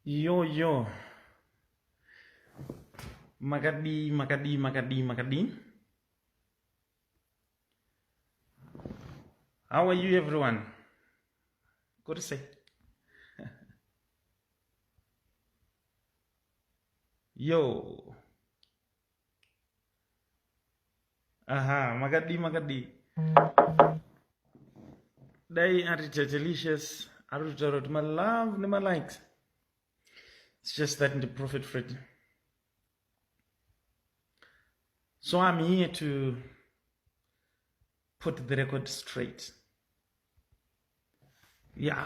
Yo yo. Makadi, makadi, makadi, makadi. How are you everyone? Good to see. Yo. aha makadii makadii dai ari tatelicious ari kutotaura kuti malove nemalikes its just that ndiprofet fred so i'm here to put the record straight yeah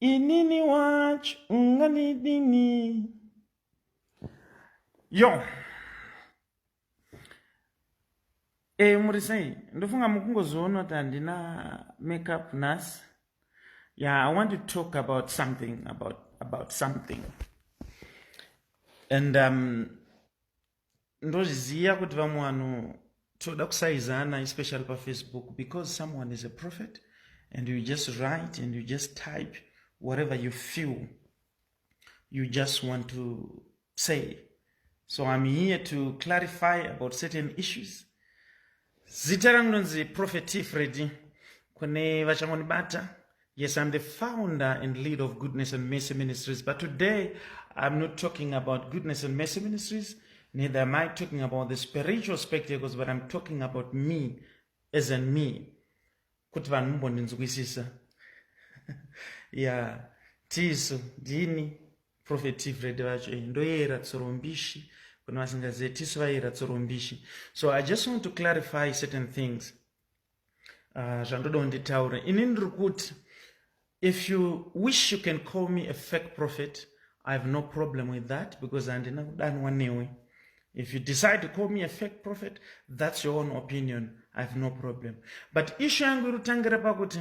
inini wacho unganidini yo e muri sei ndofunga mukungozoona kuti handina makeup nhasi yeah i want to talk about something about about something and um ndozviziva kuti vamwe vanhu toda kusaizana especially pafacebook because someone is a prophet and you just write and you just type whatever you feel you just want to say so i'm here to clarify about certain issues Zita rangu ndonzi Prophet T Freddy kune vachangonibata. Yes, I'm the founder and leader of Goodness and Mercy Ministries, but today I'm not talking about Goodness and Mercy Ministries, neither am I talking about the spiritual spectacles, but I'm talking about me as in me. Kuti vanhu mumbondinzwisisa. yeah, tisu ndini prophet tifred vacho eh, ndoyera tsorombishi kune vasingazive tisu vayera tsorombishi so i just want to clarify certain things ah, zvandoda uh, kunditaura ini ndiri kuti if you wish you can call me a fake prophet i have no problem with that because handina kudanwa newe if you decide to call me a fake prophet that's your own opinion i have no problem but issue yangu iri kutangira pakuti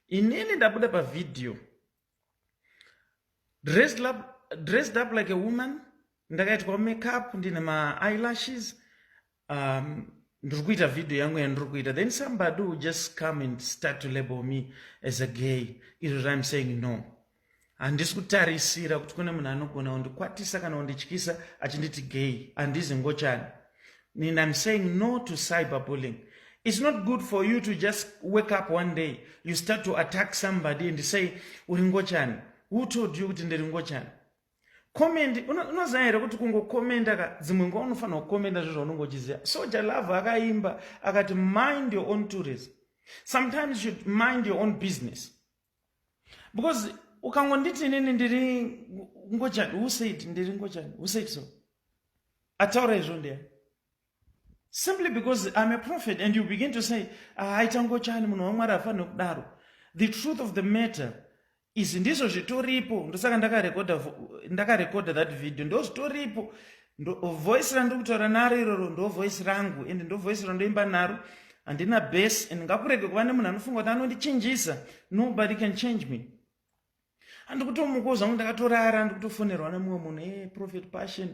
inini ndabuda pavhidhiyo dressed up, dressed up like a woman ndakaitwa makeup ndine maeyelashes um, ndiri kuita video yangu yandiri kuita then somebody will just come and start to label me as a gay izvo zvaim saying no handisi kutarisira kuti kune munhu anogona kundikwatisa kana kundityisa achinditi gay handizi ngochani And I'm saying no to cyberbullying. It's not good for you to just wake up one day, you start to attack somebody and say, Uringochani. Who told you kuti ndiringochani? Comment, unoziva here kuti kungokomenda ka dzimwe nguva unofanira kukomenda zvo zvaunenge uchiziva. Soja Love akaimba akati mind your own tourism. Sometimes you should mind your own business. because ukangonditi inini ndiri ngochani who said ndiri ngochani who said so ataura izvo ndeya simply because i'm a prophet and you begin to say ah, aita ngochani munhu wamwari afanire kudaro the truth of the matter izvi ndizvo zvitoripo ndosaka ndakarekoda ndakarekoda that video ndo zvitoripo ndo voice randiri kutaura naro iroro ndo voice rangu and ndo voice randoimba naro handina base and ngakurege kuva nemunhu anofunga kuti anondichinjisa nobody can change me handikutomukawo zvangu ndakatorara handikutofonerwa nemumwe munhu e eh, prophet passion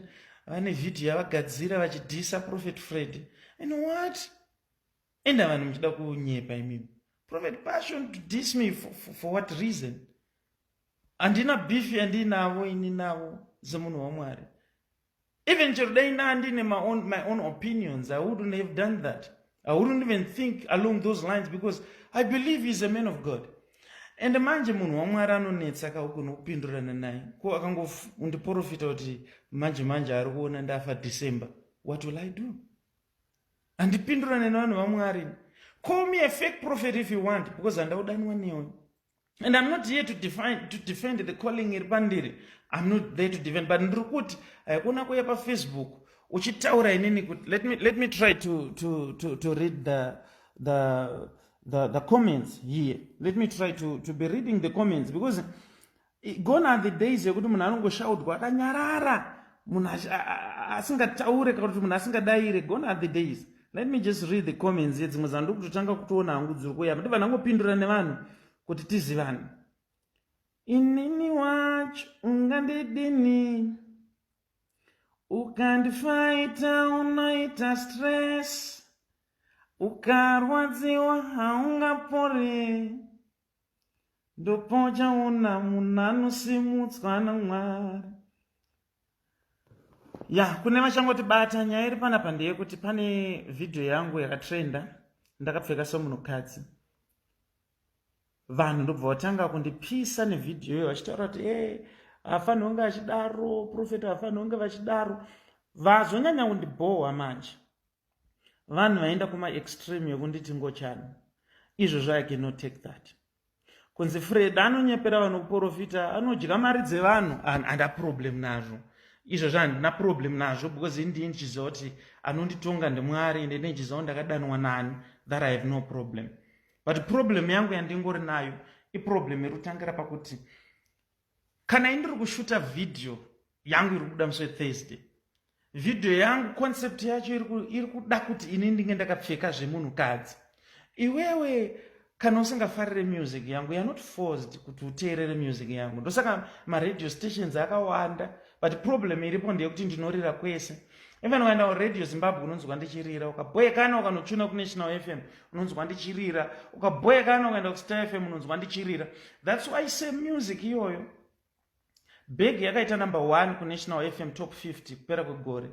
vane vhidhiyo yavagadzira vachidhisa prophet fred and what enda vanhu muchida kunyepa imimi prophet passion to dis me for, for, for what reason handina beef yandinavo ini navo semunhu wamwari even chero dai naandine my own, my own opinions i wouldn't have done that i wouldn't even think along those lines because i believe he's a man of god and manje munhu wamwari anonetsa kaukone kupindurana naye ko akangondiprofita kuti manje manje ari kuona ndafa december what will i do handipindurane nevanhu vamwari call me a fake prophet if you want because handaudanwa newe and i'm not here to, define, to defend the calling iri pandiri i'm not there to defend but ndiri kuti haikona kuya pafacebook uchitaura inini kuti let me, let me try to, to, to, to read the, the, the, the comments here let me try to, to be reading the comments because gone are the days yekuti munhu anongoshaudwa akanyarara munhu asingataure kana kuti munhu asingadaire gone are the days let me just read the comments ye dzimwe dzandu kutotanga kutoona hangu dziri kuya kuti vanhu angopindura nevanhu kuti tizivane inini wacho ungandidini ukandifaita unoita stress ukarwadziwa haungapore ndopauchaona munhu anosimudzwa namwari ya kune vachangoti bata nyaya iri panapa ndeyekuti pane vhidhiyo yangu yakatrenda ndakapfeka somunhukadzi vanhu ndobva vatanga kundipisa nevhidhiyo iyo vachitaura kuti e eh, hafanhi kunge achidaro profeta hafanhi kunge vachidaro vazonyanya kundibhohwa manje vanhu vaenda kuma extreme yekunditi ngochani izvo zvo i cannot take that kunzi freda anonyepera vanhu kuprofita anodya mari dzevanhu handa problem nazvo izvo zvahandina problem nazvo because indii ndichiziva kuti anonditonga ndimwari ende ndichiziva ndakadanwa nani that i have no problem but problem yangu yandingori nayo iproblem iri kutangira pakuti Kana ini ndiri kushuta video yangu iri kubuda musi wethursday video yangu concept yacho iri kuda kuti ini ndinge ndakapfeka zvemunhukadzi iwewe kana usingafarire music yangu you're not forced kuti uteerere music yangu ndosaka maradio stations akawanda but problem iripo ndeyekuti ndinorira kwese even ukaenda kuradio zimbabwe unonzwa ndichirira ukaboyekana ukanochuna kunational fm unonzwa ndichirira ukaboyekana ukaenda kustar fm unonzwa ndichirira thats why se music iyoyo beg yakaita number one kunational fm top 50 kupera kwegore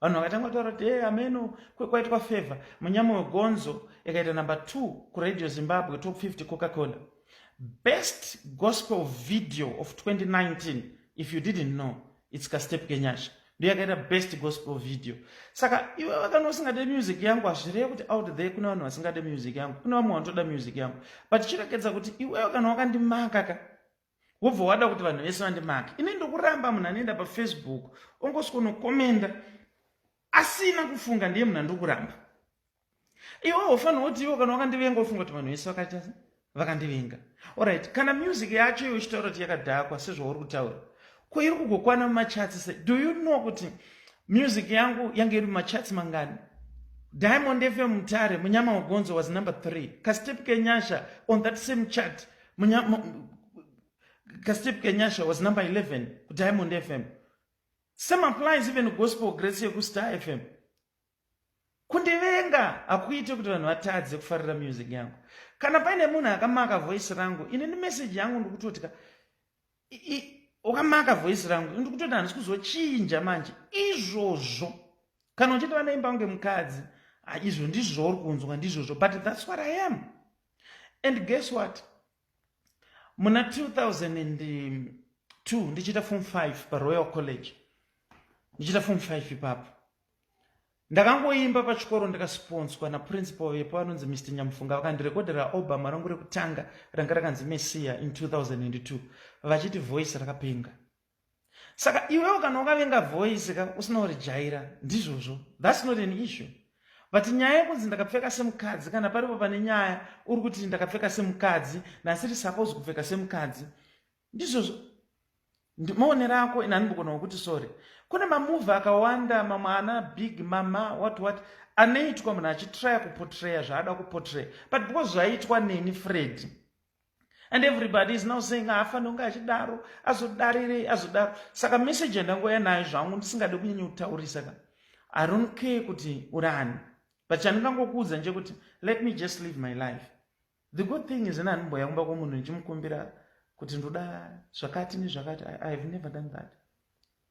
vanhu vakatanga kutaura kuti e ameno kwekwaitwa favor munyama wegonzo ikaita number 2 kuradio zimbabwe top 50 coca cola best gospel video of 2019 if you didn't know its kastep kenyasha ndo yakaita best gospel video saka iwe vakana usingade music yangu hazvireve kuti out there kune vanhu vasingade music yangu kune vamwe vanotoda music yangu but chirekedza kuti iwewe kana wakandimaka ka wobva wada kuti vanhu vese vandimake ini ndokuramba munhu anoenda pafacebook ongosikonokomenda asina kufunga ndiye munhu andokuramba iwe wofanira kuti iwo kana wakandivenga wofunga kuti vanhu vese vakaita vakandivenga orit kana music yacho iyo uchitaura kuti yakadhakwa sezvauri kutaura ko iri kugokwana mumachatsi se do you know kuti music yangu yange iri mumachatsi mangani diamond fm mutare munyama wegonzo was number three kastep kenyasha on that same chat kastep kenyasha was number 11 kudiamond fm same applies even gospel grace yekustar fm kundivenga hakuite kuti vanhu vatadze kufarira music yangu kana paine munhu akamaka voice rangu ini nemeseji yangu ndikutotika wakamaka voice rangu ndiri kutoti handisi kuzochinja manje izvozvo kana uchiti vanoimba kunge mukadzi izvo ndizvo uri kunzwa ndizvozvo but thats what i am and guess what muna 2002 ndichiita form 5 paroyal college ndichiita form 5 ipapo Ndakangoimba pachikoro ndikasiponswa naprincipal vepo vanonzi Mr Nyamufunga vakandirekodhera album rangu rekutanga ranga rakanzi Messiah in 2002 vachiti voice rakapenga. Saka iwewo kana wakavenga voice ka usina kurijaira ndizvozvo that's not an issue. But nyaya yekunzi ndakapfeka semukadzi kana paripo pane nyaya uri kuti ndakapfeka semukadzi ndasiri supposed kupfeka semukadzi ndizvozvo maonero ako ini andimbogona wekuti sorry kune mamuvi akawanda mamwe ana big mama what what anoitwa munhu achitraya kupotreya zvaada kupotreya but because zvaiitwa neni fredi and everybody is now saying haafanire kunge achidaro azodarirei azodaro saka message yandangouya nayo zvangu ndisingade kunyanya kutaurisa ka i don't care kuti urani but chandingangokuudza ndechekuti let me just live my life the good thing is ini handimboya kumba kwomunhu ndichimukumbira kuti ndoda zvakati nezvakati i have never done that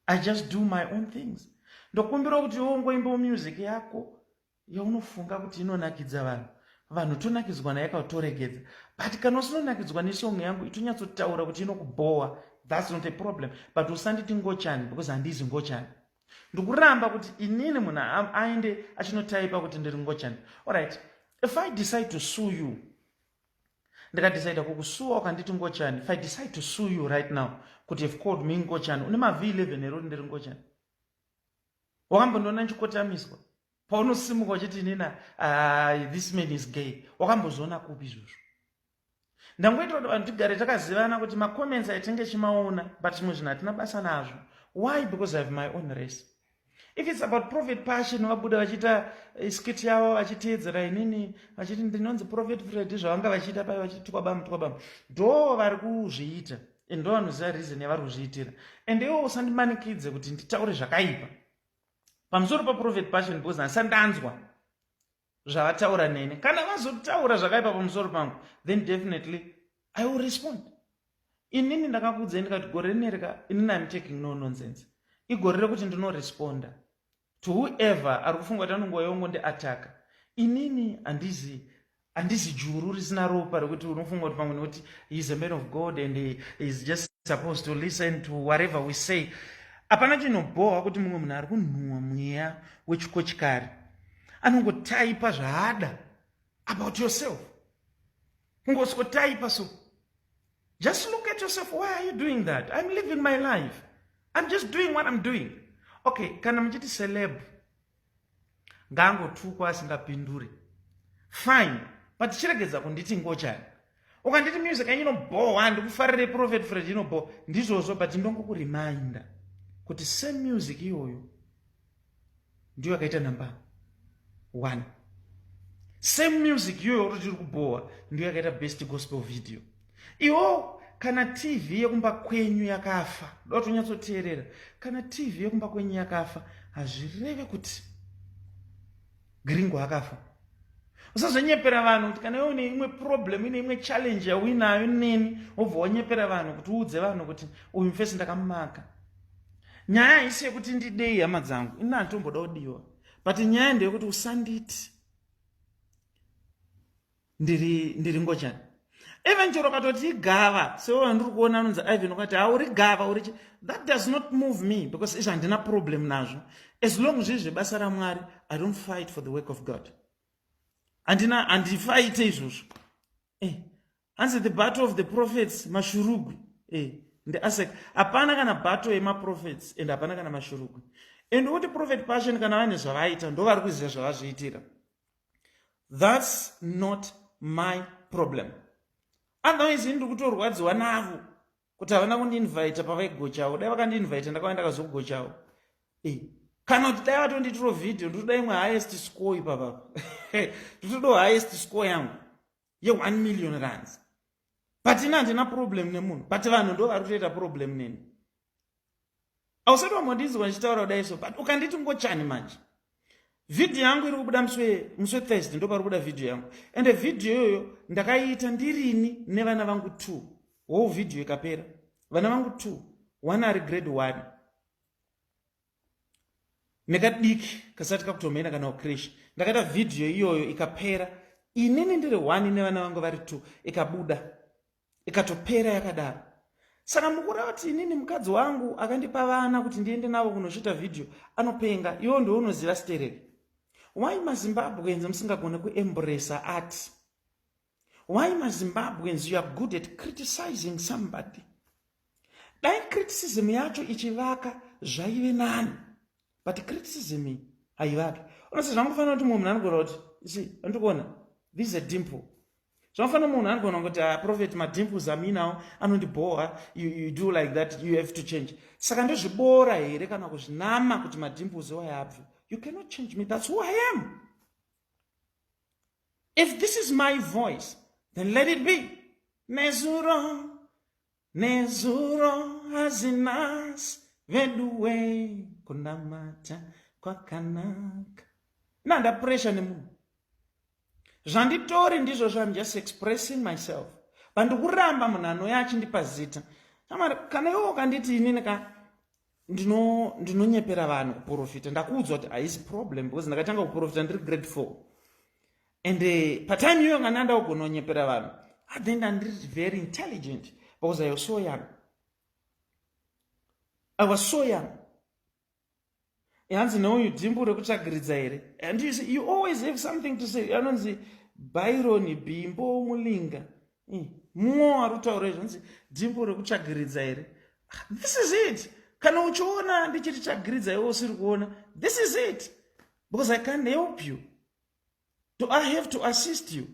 i just do my own things ndokumbirawo kuti iwo ungoimbawo music yako yaunofunga kuti inonakidza vanhu vanhu tonakidzwa naye kautoregedza but kana usinonakidzwa nesong yangu itonyatsotaura kuti inokubhowa thats not a problem but usanditi ngochani because handizi ngochani ndikuramba kuti inini munhu aende achinotaipa kuti ndiri ngochani orit if i decide to sue you ndikadecida kukusuwa ukanditi ngochani if i decide to sue you right now kuti have called me ngochani une mav 11 here uri ndiri ngochani wakambondiona ndichikotamiswa paunosimuka uchiti inina ah, this man is gay wakambozviona kupi izvozvo ndangoita kuti vanhu tigare takazivana kuti macomments aitenge chimaona but zvimwe zvinhu hatina basa nazvo why because i have my own race if its about profit passion vabuda vachiita eh, skit yavo vachiteedzera inini vachiti ndinonzi profit fred zvavanga vachiita paye vachiti tukwabamu tukwabamu ndo vari kuzviita and ndo vanoziva reason yavari kuzviitira and iwo usandimanikidze kuti nditaure zvakaipa pamusoro paprofit passion because handisandanzwa zvavataura nene kana vazotaura zvakaipa pamusoro pangu then definitely i will respond inini ndakakuudzai ndikati gore rinerika inini im taking no nonsense igore rekuti ndinoresponda to whoever ari kufunga kuti anonguva yongo ndiataka inini handizi handizi juru risina ropa rekuti unofunga kuti pamwe nekuti heis a man of god and heis just supposed to listen to whatever we say hapana chinobhohwa kuti mumwe munhu ari kunhuhwa mweya wechikochikari anongotaipa zvaada about yourself kungoswotaipa so just look at yourself why are you doing that i'm living my life i'm just doing what i'm doing okay kana muchiti celeb ngaangotukwa asingapinduri fine but chiregedza kunditi ngochani ukanditi music yanyu inobhowa handikufarire prophet fred inobhowa ndizvozvo but ndongokureminda kuti same music iyoyo ndiyo akaita number one same music iyoyo uri tiri kubhowa ndiyo yakaita best gospel video iwo kana tv yekumba kwenyu yakafa doda tonyatsoteerera kana tv yekumba kwenyu yakafa hazvireve kuti gringo akafa usazonyepera vanhu kuti kana iwe une imwe problem ine imwe challenge yauinayo neni wobva wanyepera vanhu kuti uudze vanhu kuti uyu mfesi ndakamumaka nyaya haisi yekuti ndidei hama dzangu ini handitomboda kudiwa but nyaya ndeyekuti usanditi ndiri ndiri ngochani even chero katoti igava sewo andiri kuona anonzi ivan ukati hauri gava uri chi that does not move me because izvi handina problem nazvo as long zviri zvebasa ramwari i don't fight for the work of god handina handifaite izvozvo eh hanzi the battle of the prophets mashurugwi eh ndiasek hapana kana battle yemaprophets and hapana kana mashurugwi and woti prophet passion kana vane zvavaita ndo vari kuziva zvavazviitira thats not my problem otherwise ini ndiri kutorwadziwa navo kuti havana kundiinvita pavaigochawo dai vakandiinvita ndakava ndakazogochawo eh, kana kuti dai vatonditiro vhidhiyo nditoda imwe highest score ipapapa nditodawo highest score yangu ye 1 million rands but ini handina problem nemunhu but vanhu ndo vari kutoita problem neni ausati wambondinzwa ndichitaura kudai so but ukanditi ngochani manje vhidhiyo yangu iri kubuda muswe muswe thursday ndo pari kubuda vhidhiyo yangu ende vhidhiyo iyoyo ndakaiita ndirini nevana vangu two wo vhidhiyo ikapera vana vangu two one ari grade one nekadiki kasati kakutomhena kana ukresh ndakaita vhidhiyo iyoyo ikapera inini ndiri one nevana vangu vari two ikabuda ikatopera yakadaro saka mukureva kuti inini mukadzi wangu akandipa vana kuti ndiende navo kunochiita vhidhiyo anopenga iwo ndounoziva stereki why mazimbabweans musingagone kuembresa ati Why maZimbabweans you are good at criticizing somebody? Dai criticism yacho ichivaka zvaive nani. But criticism iyi haivaki. Unose zvangofanira kuti munhu anogona kuti isi andikuona this is a dimple. Zvangofanira munhu anogona kuti a ah, prophet madimples aminawo anondibhowa you, you do like that you have to change. Saka ndozviboora here kana kuzvinama kuti madimples iwayo abve. You cannot change me that's who I am. If this is my voice, then let it be. Nezuro, nezuro hazinas veduwe kunamata kwakanaka. Na nda pressure nemunhu. Zvanditori ndizvo I'm just expressing myself. Bandikuramba munhu anoya achindipa zita. Kana iwo kanditi inini ka ndino ndinonyepera vanhu kuprofita ndakuudzwa kuti haisi problem because ndakatanga kuprofita ndiri grade four and uh, patime iyoyo kana ndanda kugona kunyepera vanhu athen ndandiri very intelligent because i was so young i was so young hanzi neuyu dhimbu rekutsvagiridza here and you, see, you always have something to say anonzi byron bimbo mulinga mm. mumwe wari kutaura izvonzi dzimbo rekutsvagiridza here this is it kana uchiona ndichiti tsvagiridza iwe usiri kuona this is it because i can't help you do i have to assist you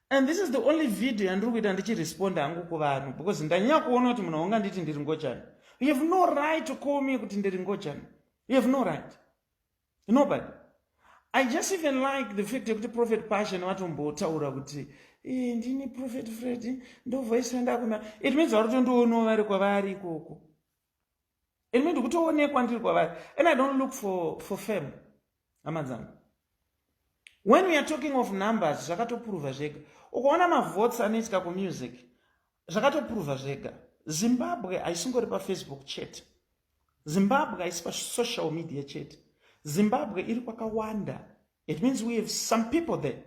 and this is the only video yandiri kuita ndichiresponda hangu kuvanhu because ndanyanya kuona kuti munhu aunga nditi ndiri ngojani you have no right to call me kuti ndiri ngojani you have no right nobody i just even like the fact yekuti prophet passion vatombotaura kuti eh, ndini prophet fred ndovoice randakuna it means vari kutondionawo vari kwavari ikoko it means ndikutoonekwa ndiri kwavari and i don't look for, for fame hama dzangu when we are talking of numbers zvakatoprova zvega ukaona mavotes anoitika kumusic zvakatoprova zvega zimbabwe haisingori pafacebook chete Zimbabwe haisi pasocial media chete. Zimbabwe iri kwakawanda. It means we have some people there.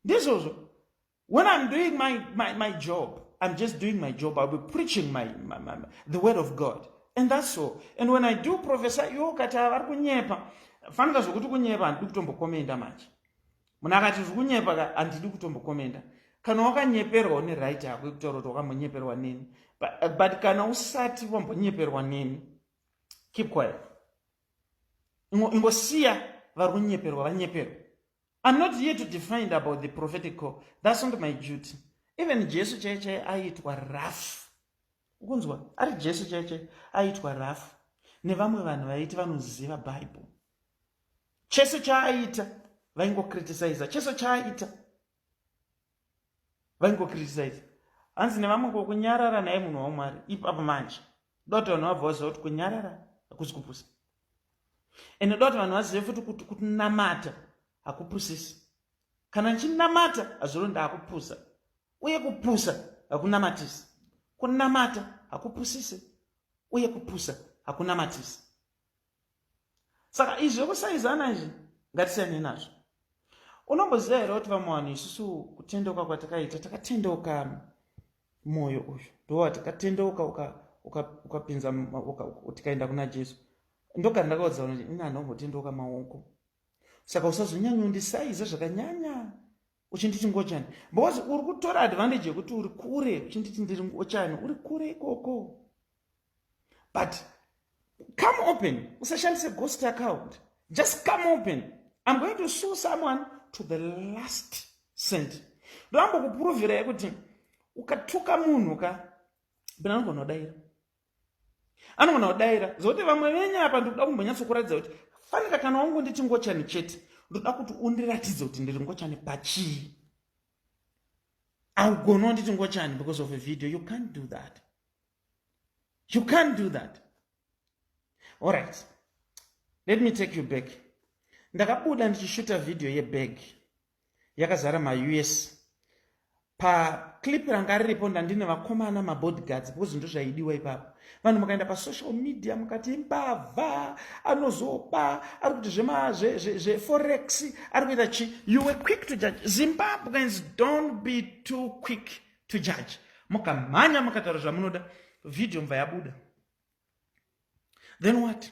Ndizvozvo. When I'm doing my, my, my job, I'm just doing my job. I'll be preaching my, my, my, the word of God. And that's all. And when I do professor, yo kati vari kunyepa. Fanika zvokuti kunyepa handidi kutombokomenda manje. munhu akati ndiri kunyepa ka handidi kutombokomenda kana wakanyeperwa une right yako yekutaura kuti wakambonyeperwa neni but kana usati wambonyeperwa neni keep quiet ingosiya vari kunyeperwa vanyeperwa i'm not here to defined about the prophetic call that's not my duty even jesu chaiye chaiye aiitwa rafu ukunzwa ari jesu chaiye chaiye aiitwa rafu nevamwe vanhu vaiti vanoziva bible chese chaaita vaingokritisaiza chese chaaita vaingokritisaiza hanzi nevamwe kokunyarara naye munhu wamwari ipapo manje doti vanhu vabva vaziva kuti kunyarara hakuzi kupusa ende doti vanhu vazive futi kuti kunamata hakupusisi kana ndichinamata hazviro ndaakupusa uye kupusa hakunamatisi kunamata hakupusisi uye kupusa hakunamatisi saka izvi zvekusaizana izvi ngatisiyane nazvo unomboziva here kuti vamwe vanhu isusu kutendeuka kwatakaita takatendeuka mwoyo uyu ndova takatendeuka ukapinza tikaenda kuna jesu ndogara ndakaudza vanhu ini anhu ambotendeuka maoko saka usazonyanyondisaiza zvakanyanya uchinditi ngochani because uri kutora advantage yekuti uri kure uchinditi ndiri ngochani uri kure ikoko but come open usashandise ghost account just come open i'm going to sue someone to the last cent ndoambo kupurovhira yekuti ukatuka munhu ka bina anogonodaira anogona kudaira zokuti vamwe venyu apa ndikuda kumbonyatsokuratidza kuti fanika kana wangonditi ngochani chete ndoda kuti undiratidze kuti ndiri ngochani pachii augoni wanditi ngochani because of a video you can't do that you can't do that all right let me take you back ndakabuda ndichishuta vhidhiyo yebag yakazara maus paclip ranga riripo ndandine vakomana mabodyguards because ndo zvaidiwa ipapo vanhu mukaenda pasocial media mukati mbavha anozoba ari kuti zveforex ari kuita chi you were quick to judge zimbabweans don't be too quick to judge mukamhanya mukataura zvamunoda vhidhiyo mva yabuda then what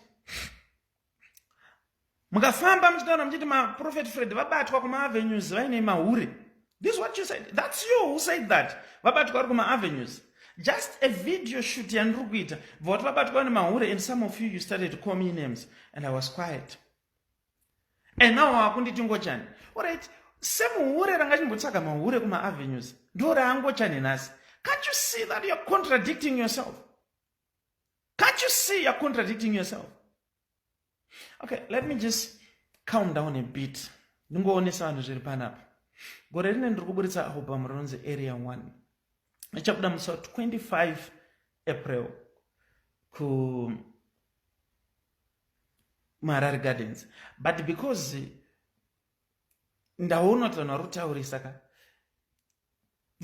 mukafamba muchitaura muchiti maprofet fred vabatwa kumaavenues vaine mahure this what you said thats you who said that vabatwa vari kumaavenues just a video shoot yandiri kuita bva kuti vabatwa nemahure and some of you you started to call me names and i was quiet and now wakunditi ngochani orit semuhure ranga chimbotsvaga mahure kumaavenues ndo raangochani nhasi can't you see that youare contradicting yourself Can't you see you're contradicting yourself? Okay, let me just calm down a bit. Ndingoonesa vanhu zviri panapa. Gore rine ndiri kuburitsa album rinonzi Area 1. Ichabuda musi 25 April ku Marari Gardens. But because ndaona kuti vanhu vari kutaurisa ka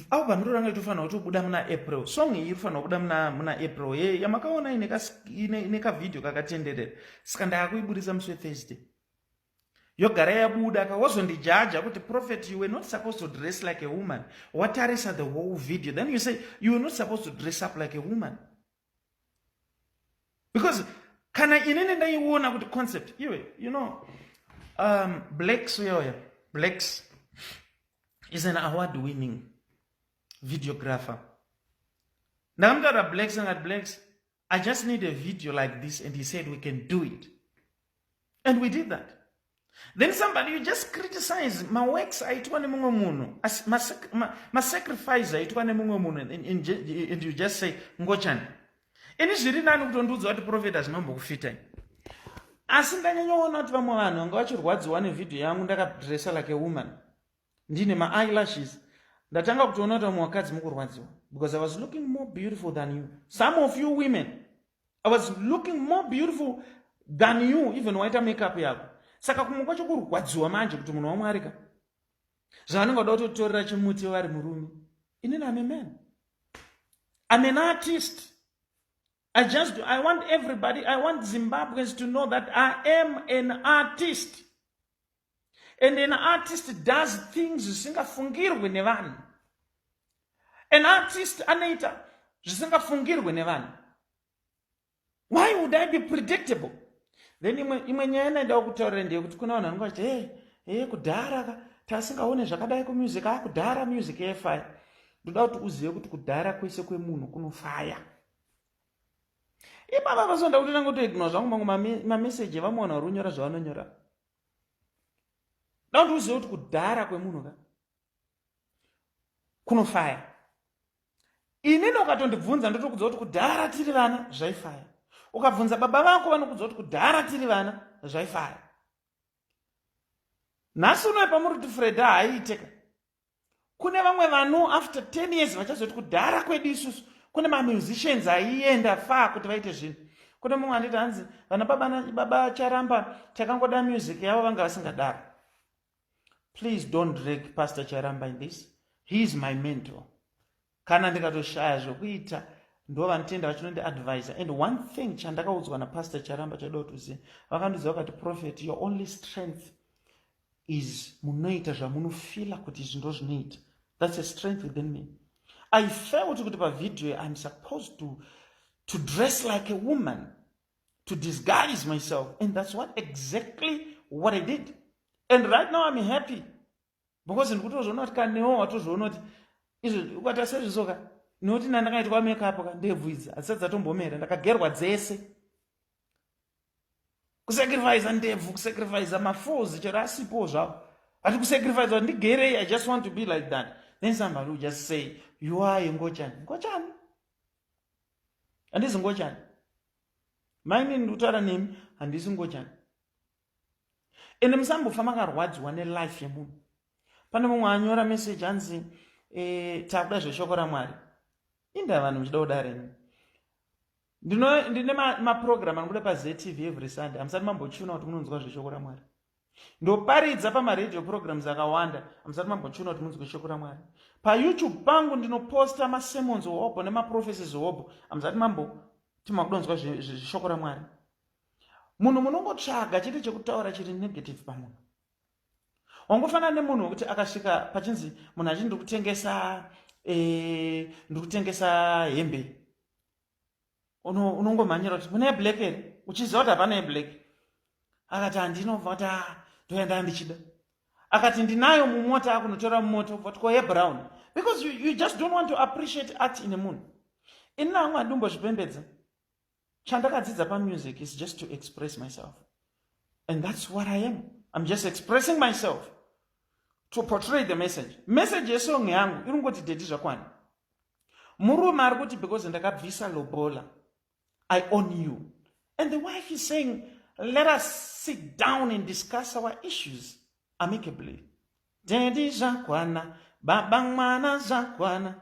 Avo vanhu iro ranga itofanira kutobuda muna April. Song iyi irifanira kubuda muna muna April. Ye yamakaona ine ka ine, ine ka video kakatenderera. Saka ndakuiburitsa musi Thursday. Yogara yabuda ka wazondijaja kuti prophet you were not supposed to dress like a woman. Watarisa the whole video. Then you say you were not supposed to dress up like a woman. because kana inini ndaiona kuti concept iwe you know um, blacks uyoya blacks is an award winning videographer ndakamutaura blacks angati blacks i just need a video like this and he said we can do it and we did that then somebody you just criticize maworks aitwa nemumwe munhu masacrifice aitwa nemumwe munhu and you just say ngochani ini zviri nani kutondiudza kuti profet hazvinombokufitai asi ndanyanyoona kuti vamwe vanhu vanga vachirwadziwa nevhidhiyo yangu ndakadressa like a woman ndine ma eyelashes ndatanga kutoona kuti vamwe vakadzi mukurwadziwa because i was looking more beautiful than you some of you women i was looking more beautiful than you even waita makeup yako saka kumwe kwacho kurwadziwa manje kuti munhu wamwarika zvavanenge vada kutotorera chimuti vari murume inini ame man i'm an artist i just do, i want everybody i want zimbabweans to know that i am an artist and an artist does things zvisingafungirwe nevanhu an artist anoita zvisingafungirwe nevanhu why would i be predictable then imwe nyaya inaendawo kutaurira ndeyekuti kuna vanhu vanenge vachiti hey, hey, kudhara ka tasingaone zvakadai kumusic a kudhara music yefaya ndoda kuti uzive kuti kudhara kwese kwemunhu kunofaya ipapa pasonda kuti ndanga kutoignora zvangu mangu mameseji evamwe vanhu vari kunyora zvavanonyora Don't you see kudhara kwemunhu ka kunofaya inini ukatondibvunza ndotokudza kuti kudhara tiri vana zvaifaya ukabvunza baba vako vanokudza kuti kudhara tiri vana zvaifaya nhasi unoe pamuri kuti freda haiiteka kune vamwe vanu after 10 years vachazoti kudhara kwedu isusu kune mamusicians aienda faa kuti vaite zvinhu kune mumwe anditi hanzi vana baba charamba takangoda music yavo vanga vasingadaro please don't drag pastor charamba in this he is my mentor kana ndikatoshaya zvekuita ndo vanotenda vachinondi advisor and one thing chandakaudzwa napastor charamba chaida kuti uzive vakandiudza vakati prophet your only strength is munoita zvamunofila kuti izvi ndo zvinoita thats a strength within me i felt kuti pavhidhiyo iam supposed to, to dress like a woman to disguise myself and thats what exactly what i did and right now iam happy because ndikutozviona kuti kanewo watozviona kuti izvo ukaita sezvisoka nokuti na ndakaitwa makeup ka ndebvu idzi hadzisati dzatombomera ndakagerwa dzese kusacrifice ndebvu kusacrifice mafozi chero asipo zvavo hati kusacrifice kuti ndigerei i just want to be like that then somebody will just say you are ngochani ngochani handizi ngochani maini ndikutaura nemi handisi ngochani ende musambofa makarwadziwa nelife yemunhu pane mumwe anyora message anzi e, takuda zveshoko ramwari inda vanhu muchida kuda renyu ndine maprogram anobuda pazetv every sunday hamusati mambochiona kuti munonzwa zveshoko ramwari ndoparidza pamaradio programs akawanda hamusati mambochiona kuti munzwe shoko ramwari payoutube pangu ndinoposta masemons hobho nemaprophecies hobho hamusati mambo timakudonzwa zveshoko ramwari munhu munongotsvaga chete chekutaura chiri negative pamunhu wangofanana nemunhu wekuti akasvika pachinzi munhu achiti ndiri kutengesa eh, ndiri kutengesa hembe unongomhanyira kuti mune yeblack here uchiziva kuti hapana yeblack akati handinobva kuti a ah, ndoenda ndichida akati ndinayo mumota akunotora mumoto but ko yebrown because you, you just don't want to appreciate art in a munhu ini naamwe andimbozvipembedza chandakadzidza pamusic is just to express myself and that's what i am i'm just expressing myself to portray the message message yesong yangu iri kungoti dedi zvakwana murume ari kuti because ndakabvisa lobola i own you and the wife is saying let us sit down and discuss our issues amicably dedi zvakwana baba mwana zvakwana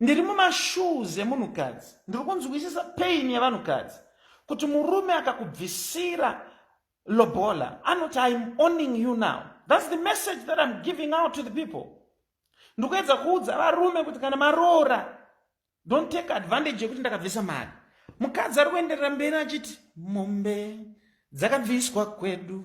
ndiri mumashoes emunhukadzi ndiri kunzwisisa pain yevanhukadzi kuti murume akakubvisira lobola anoti iam owning you now thats the message that iam giving out to the people ndiri kuedza kuudza varume kuti kana maroora don't take advantage yekuti ndakabvisa mari mukadzi ari kuenderera mberi achiti mombe dzakabviswa kwedu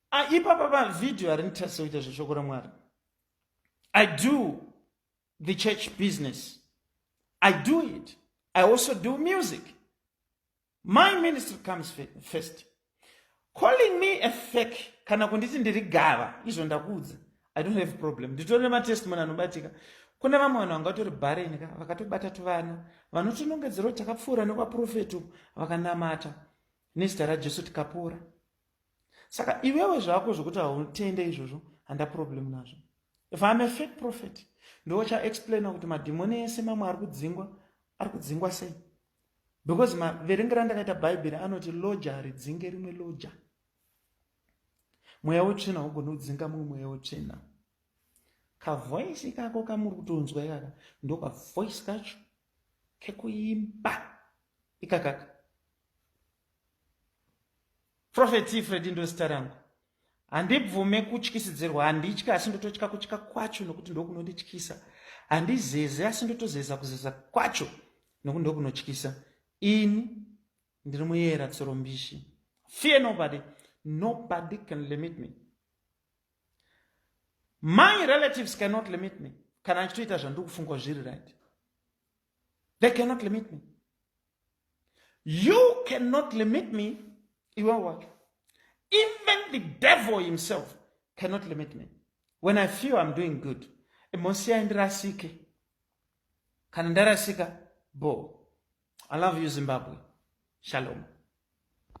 Ah, ipapa pavideo harinditarisa kuita zveshoko ramwari i do the church business i do it i also do music my ministry comes first calling me a fek kana kunditi ndiri gava izvo ndakuudza i don't have problem nditori nematestimony anobatika kune vamwe vanhu vanga vatori bhareni ka vakatobata tuvana vanotinongedzerwo takapfuura nekwaprofeti uku vakanamata nezita rajesu tikapora saka iwewe zvako zvekuti hautende izvozvo handa problem nazvo if iam a fake prophet ndochaexplaina kuti madhimoni ese mamwe ari kudzingwa ari kudzingwa sei because maverengero andakaita bhaibheri anoti loja haridzinge rimwe loja mweya wetsvina haugoni kudzinga mumwe mweya wetsvina kavoisi ikako kamuri kutonzwa ikaka ndokavoisi kacho kekuimba ikakaka Prophet Fred ndozita rangu. Handibvume kutyisidzirwa, handitya asi ndototya kutya kwacho nokuti ndokunondityisa. Handizeze asi ndotozeza kuzeza kwacho nokuti ndokunotyisa. Ini ndiri muyera tsoro mbishi. Fear nobody, nobody can limit me. My relatives cannot limit me. Kana achitoita zvandiri kufunga zviri right. they cannot limit me you cannot limit me iwe wacho even the devil himself cannot limit me when i feel i'm doing good imosiyai ndirasike kana ndarasika bo i love you zimbabwe shalom